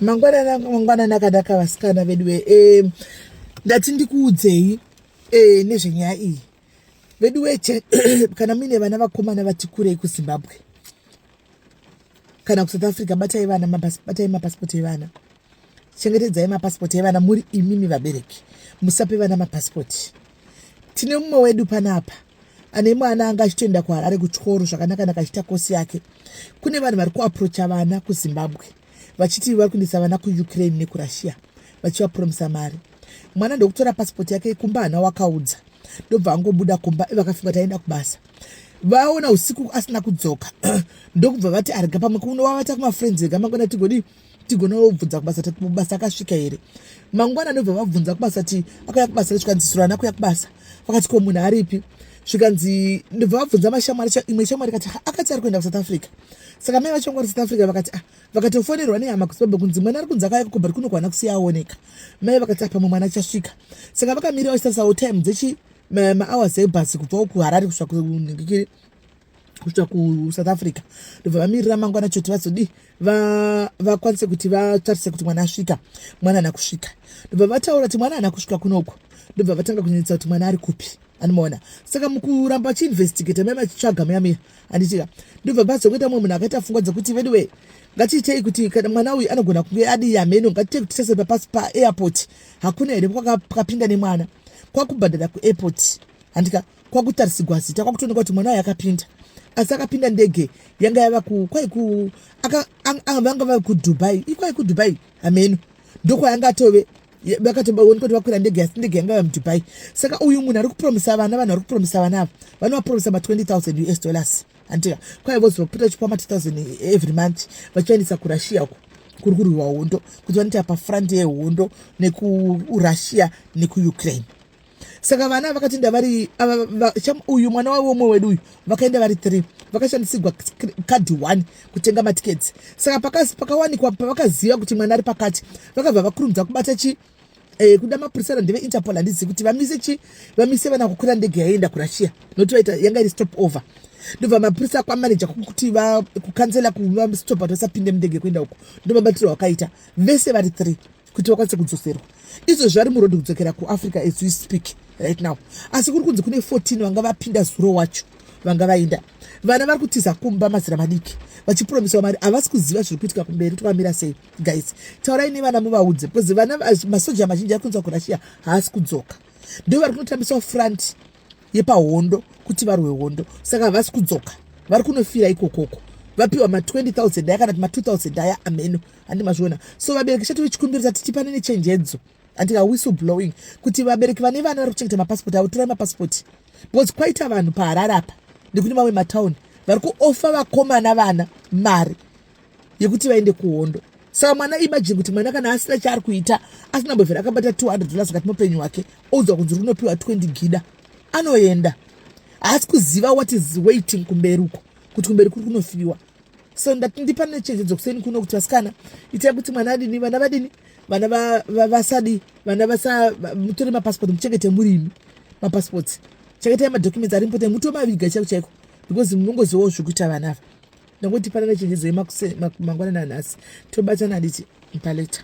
mangwanana mangwanana akanaka vasikana veduwe e, ndati ndikuudzei e, nezvenyaya iyi veduwe kana muine vana vakomana vati kurei kuzimbabwe kana kusouth africa batai vana batai mapasipoti evana chengetedzai mapasipoti evana muri imimi vabereki musape vana mapasipoti tine mumwe wedu panapa ane mwana anga achitoenda kuharare kuchikoro zvakanaka naka achiita kosi yake kune vanhu vari kuaprocha vana kuzimbabwe vachiti vari kuendesa vana kuukraine nekurussia vachivapromisa mari mwana ndokutora pasipoti yake kumba hana wakaudza ndobva angobuda kumba ivakafunga taenda kubasa vaona usiku asina kudzoka ndokubva vati arega pamwe kuno wavata kumafriends ega mangwana tigodii tigona vobvunza kubasa tati mubasa akasvika here mangwana anobva vabvunza kubasa ti akauya kubasa zvikanzi surana kuya kubasa vakati ko munhu aripi zvikanzi ndobva vabvunza mashamwari imwe shamwari kati akati ari kuenda kusouth africa saka mai vacho vangwari south africa vakati ah vakatofonerwa nehama kuzimbabwe kunzi mwana ari kunzi akauya kukobhari kuno kwana kusiya aoneka mai vakati ah pamwe mwana achasvika saka vakamira vachisarisawo time dzechi mahours ebhasi kubvawo kuharari kusvika kunhingikiri kusvika kusouth africa ndobva vamirira mangwana choti vazodii vakwanise kuti vatarise kuti mwana asvika mwana ana kusvika ndobva vataura kuti mwana ana kusvika kunoko ndobva vatanga kunyanyisa kuti mwana ari kupi anomaona saka mukuramba vachiinvestigata mai vachitsvaga muyamiya handitika ndobva bazokuita mumwe munhu akaita fungwa dzekuti veduwe ngatiitei kuti kana mwana uyu anogona kunge adii hameno ngatiitei kuti tese papasi paairport hakuna here kwakapinda nemwana kwakubhadhara kuairport handika kwakutarisigwa zita kwakutoonekwa kuti mwana ayo akapinda asi akapinda ndege yanga yava kwaiku vanga vave kudubai ikwai kudubai hameno ndokwayanga atove vakatobaoneka kuti vakwira ndege asi ndege yanga yava mudubai saka uyu munhu ari kupromisa vana vanhu vari kupromisa vana ava vanovapromisa ma 20 000 us dollars andiya kwai vozopota chikwama 2000 every month vachivaendesa kurussia uko kuri kurwiwa hondo kuti vanoita pafront yehondo nekuurussia nekuukraine saka vana vakatoenda vari uyu mwana wavo umwe wedu uyu vakaenda vari three vakashandisigwa kadhi one kutenga matiketsi saka pakawanikwa pavakaziva kuti mwana ari pakati vakabva vakurumidza kubata chi eh, kuda mapurisa randeve interpol handizivi kuti vamise chi vamise vana kukwira ndege yaienda kurussia nokuti vaita yanga iri stop over ndobva mapurisa kwamaneja kuti kukanzela kuvastopa kuti vasapinde mundege kuenda uko ndomabatiro wakaita vese vari three kuti vakwanise kudzoserwa izvo zvari murodhi kudzokera kuafrica as we speak right now asi kuri kunzi kune 14 vanga vapinda zuro wacho vanga vaenda vana vari kutiza kumba mazira madiki vachipromisawa mari havasi kuziva zviri kuitika kumberi twamira sei guys taurai nevana muvaudze because vana masoja mazhinji ari kunzi vakurashiya haasi kudzoka ndo vari kunotambisawo front yepahondo kuti varwe hondo saka havasi kudzoka vari kunofira ikokoko vapiwa ma 20000 aya kana kuti ma 2000 aya ameno handi mazviona so vabereki chatove chikumbiro tati tipane nechenjedzo andika whistle blowing kuti vabereki vane vana vari kuchengeta mapasipoti avo torai mapasipoti because kwaita vanhu paharare apa nekune mamwe matauni vari kuofa vakomana vana mari yekuti vaende kuhondo saka mwana imajini kuti mwana kana asina chaari kuita asina mbovhera akabata 200 dollars kati mupenyu wake oudzwa kunzi runopiwa 20 gida anoenda haasi kuziva what is waiting kumberi uko kuti kumberi kuri kunofiwa so ndati ndipa nechenjedzo kuseni kuno kuti vasikana itai kuti mwana adini vana vadini vana vasadi vana vasa mutore mapasipoti muchengete murimi mapasipoti chengetai madocuments ari mpote mutomaviga chaiko chaiko because munongozivawo zvekuita vana ava nokuti panana chenjedzo yemakuseni mangwanani anhasi tobatana handiti mpaleta